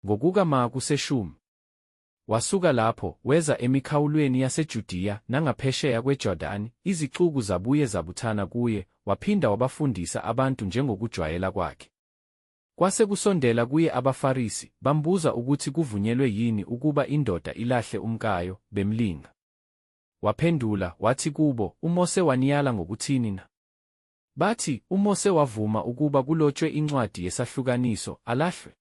Ngokuka ma kuseshumi. Wasuka lapho, weza emikhawulweni yaseJudiya nangaphesheya kweJordani, izixuku zabuye zabuthana kuye, waphinda wabafundisa abantu njengokujwayela kwakhe. Kwase kusondela kuye abaFarisi, bambuza ukuthi kuvunyelwe yini ukuba indoda ilahle umkayo, bemlinga. Waphendula, wathi kubo, UMose waniyala ngokuthini na? Bathi, UMose wavuma ukuba kulotshwe incwadi yesahlukaniso, alahlwe.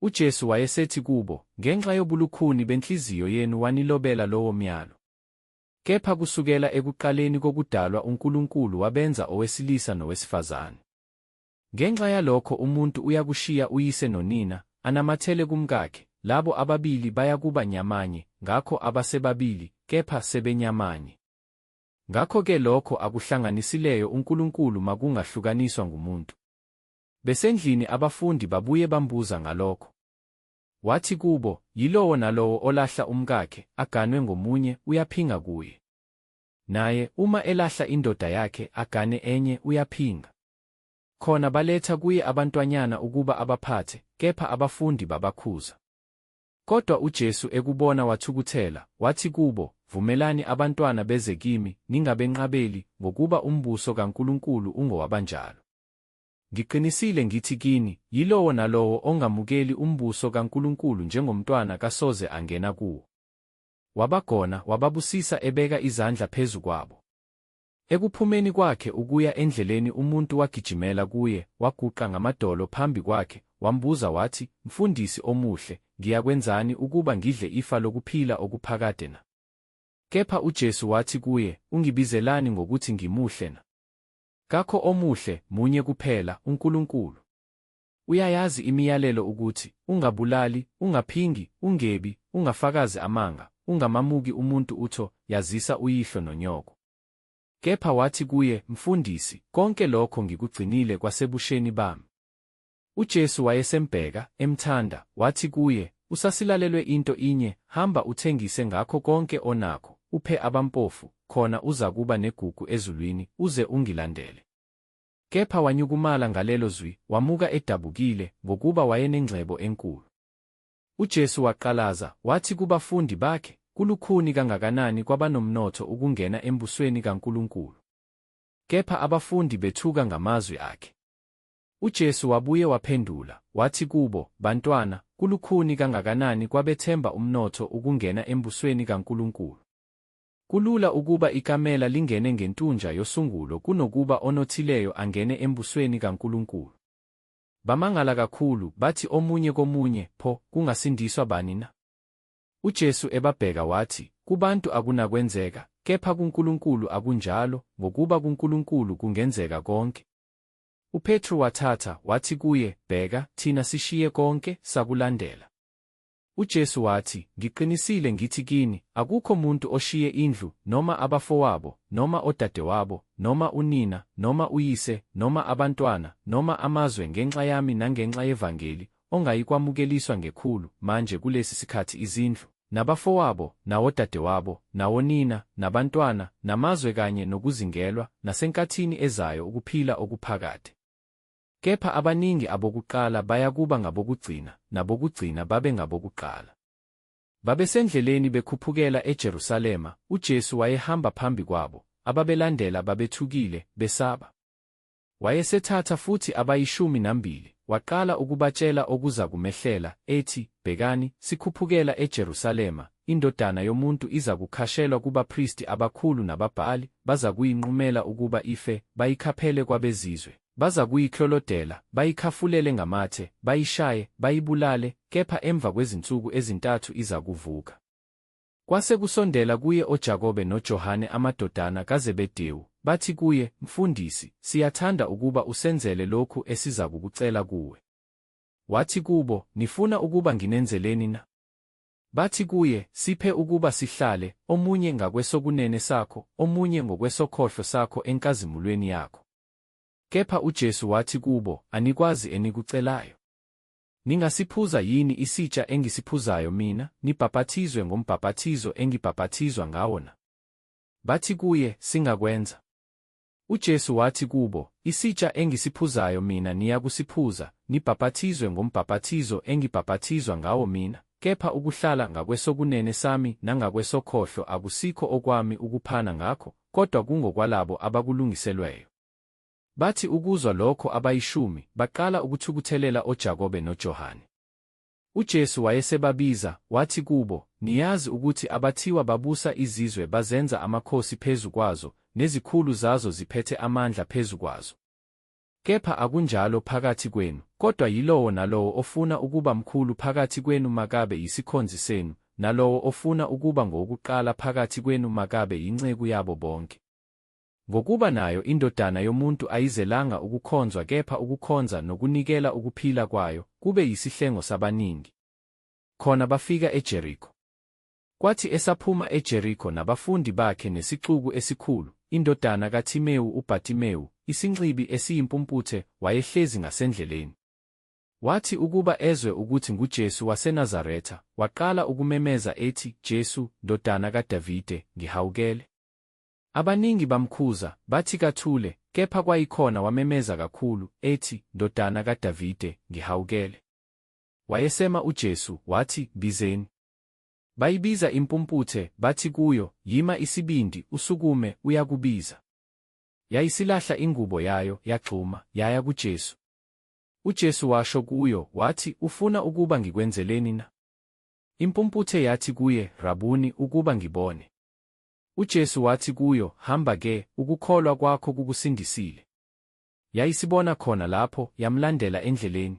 UJesu wayesethi kubo, Ngenxa yobulukhuni benhliziyo yenu wanilobela lowo myalo. Kepha kusukela ekuqaleni kokudalwa uNkulunkulu wabenza owesilisa nowesifazane. Ngenxa yalokho umuntu uyakushiya uyise nonina, anamathele kumkakhe, labo ababili bayakuba nyamanye, ngakho abasebabili, kepha sebenyamanye. Ngakho-ke lokho akuhlanganisileyo uNkulunkulu makungahlukaniswa ngumuntu. Besendlini abafundi babuye bambuza ngalokho. Wathi kubo, Yilowo nalowo olahla umkakhe, aganwe ngomunye, uyaphinga kuye. Naye, uma elahla indoda yakhe, agane enye, uyaphinga. Khona baletha kuye abantwanyana ukuba abaphathe, kepha abafundi babakhuza. Kodwa uJesu ekubona wathukuthela, wathi kubo, Vumelani abantwana beze kimi, ningabenqabeli, ngokuba umbuso kaNkulunkulu ungowabanjalo. Ngiqinisile ngithi kini, yilowo nalowo ongamukeli umbuso kaNkulunkulu njengomntwana kasoze angena kuwo. Wabagona, wababusisa ebeka izandla phezu kwabo. Ekuphumeni kwakhe ukuya endleleni umuntu wagijimela kuye, waguqa ngamadolo phambi kwakhe, wambuza wathi, Mfundisi omuhle, ngiyakwenzani ukuba ngidle ifa lokuphila okuphakade na? Kepha uJesu wathi kuye, Ungibizelani ngokuthi ngimuhle na? Kakho omuhle, munye kuphela, uNkulunkulu. Uyayazi imiyalelo ukuthi, Ungabulali, ungaphingi, ungebi, ungafakazi amanga, ungamamuki umuntu utho, yazisa uyihlo nonyoko. Kepha wathi kuye, Mfundisi, konke lokho ngikugcinile kwasebusheni bami. UJesu wayesembheka, emthanda, wathi kuye, Usasilalelwe into inye, hamba uthengise ngakho konke onakho, uphe abampofu, khona uzakuba negugu ezulwini, uze ungilandele. Kepha wanyukumala ngalelo zwi, wamuka edabukile, ngokuba wayenengcebo enkulu. UJesu waqalaza, wathi kubafundi bakhe, Kulukhuni kangakanani kwabanomnotho ukungena embusweni kaNkulunkulu! Kepha abafundi bethuka ngamazwi akhe. UJesu wabuye waphendula, wathi kubo, Bantwana, kulukhuni kangakanani kwabethemba umnotho ukungena embusweni kaNkulunkulu! Kulula ukuba ikamela lingene ngentunja yosungulo kunokuba onothileyo angene embusweni kaNkulunkulu. Bamangala kakhulu, bathi omunye komunye, Pho, kungasindiswa bani na? UJesu ebabheka wathi, Kubantu akunakwenzeka, kepha kuNkulunkulu akunjalo, ngokuba kuNkulunkulu kungenzeka konke. UPetru wathatha, wathi kuye, Bheka, thina sishiye konke, sakulandela. UJesu wathi, Ngiqinisile ngithi kini, akukho muntu oshiye indlu, noma abafowabo, noma odadewabo, noma unina, noma uyise, noma abantwana, noma amazwe ngenxa yami nangenxa yevangeli, ongayikwamukeliswa ngekhulu, manje kulesi sikhathi izindlu, nabafowabo, nawodadewabo, nawonina, nabantwana, namazwe kanye nokuzingelwa, nasenkathini ezayo ukuphila okuphakade. Kepha abaningi abokuqala bayakuba ngabokugcina, nabokugcina babe ngabokuqala. Babesendleleni bekhuphukela eJerusalema, uJesu wayehamba phambi kwabo, ababelandela babethukile, besaba. Wayesethatha futhi abayishumi nambili, waqala ukubatshela okuzakumehlela, ethi, Bhekani, sikhuphukela eJerusalema, indodana yomuntu izakukhashelwa kubapristi abakhulu nababhali, bazakuyinqumela ukuba ife, bayikhaphele kwabezizwe. Bazakuyiklolodela, bayikhafulele ngamathe, bayishaye, bayibulale, kepha emva kwezinsuku ezintathu izakuvuka. Kwase kusondela kuye oJakobe noJohane amadodana kaZebedewu, bathi kuye, Mfundisi, siyathanda ukuba usenzele lokhu esizakukucela kuwe. Wathi kubo, Nifuna ukuba nginenzeleni na? Bathi kuye, Siphe ukuba sihlale, omunye ngakwesokunene sakho, omunye ngokwesokhohlo sakho enkazimulweni yakho. Kepha uJesu wathi kubo, Anikwazi enikucelayo. Ningasiphuza yini isitsha engisiphuzayo mina, nibhapathizwe ngombhapathizo engibhapathizwa ngawo na? Bathi kuye, Singakwenza. UJesu wathi kubo, Isitsha engisiphuzayo mina niyakusiphuza, nibhapathizwe ngombhapathizo engibhapathizwa ngawo mina, kepha ukuhlala ngakwesokunene sami nangakwesokhohlo akusikho okwami ukuphana ngakho, kodwa kungokwalabo abakulungiselweyo. Bathi ukuzwa lokho abayishumi baqala ukuthukuthelela oJakobe noJohane. UJesu wayesebabiza, wathi kubo, Niyazi ukuthi abathiwa babusa izizwe bazenza amakhosi phezu kwazo, nezikhulu zazo ziphethe amandla phezu kwazo. Kepha akunjalo phakathi kwenu, kodwa yilowo nalowo ofuna ukuba mkhulu phakathi kwenu makabe yisikhonzi senu, nalowo ofuna ukuba ngowokuqala phakathi kwenu makabe yinceku yabo bonke. Ngokuba nayo iNdodana yomuntu ayizelanga ukukhonzwa kepha ukukhonza nokunikela ukuphila kwayo kube yisihlengo sabaningi. Khona bafika eJeriko. Kwathi esaphuma eJeriko nabafundi bakhe nesixuku esikhulu, indodana kaThimewu uBhatimewu, isinxibi esiyimpumputhe, wayehlezi ngasendleleni. Wathi ukuba ezwe ukuthi nguJesu waseNazaretha, waqala ukumemeza ethi, Jesu, ndodana kaDavide, ngihawukele. Abaningi bamkhuza, bathi kathule, kepha kwayikhona wamemeza kakhulu, ethi, Ndodana kaDavide, ngihawukele. Wayesema uJesu, wathi, Bizeni. Bayibiza impumputhe, bathi kuyo, Yima isibindi, usukume, uyakubiza. Yayisilahla ingubo yayo, yagxuma, yaya kuJesu. UJesu washo kuyo, wathi, Ufuna ukuba ngikwenzeleni na? Impumputhe yathi kuye, Rabuni, ukuba ngibone. UJesu wathi kuyo, Hamba-ke, ukukholwa kwakho kukusindisile. Yayisibona khona lapho, yamlandela endleleni.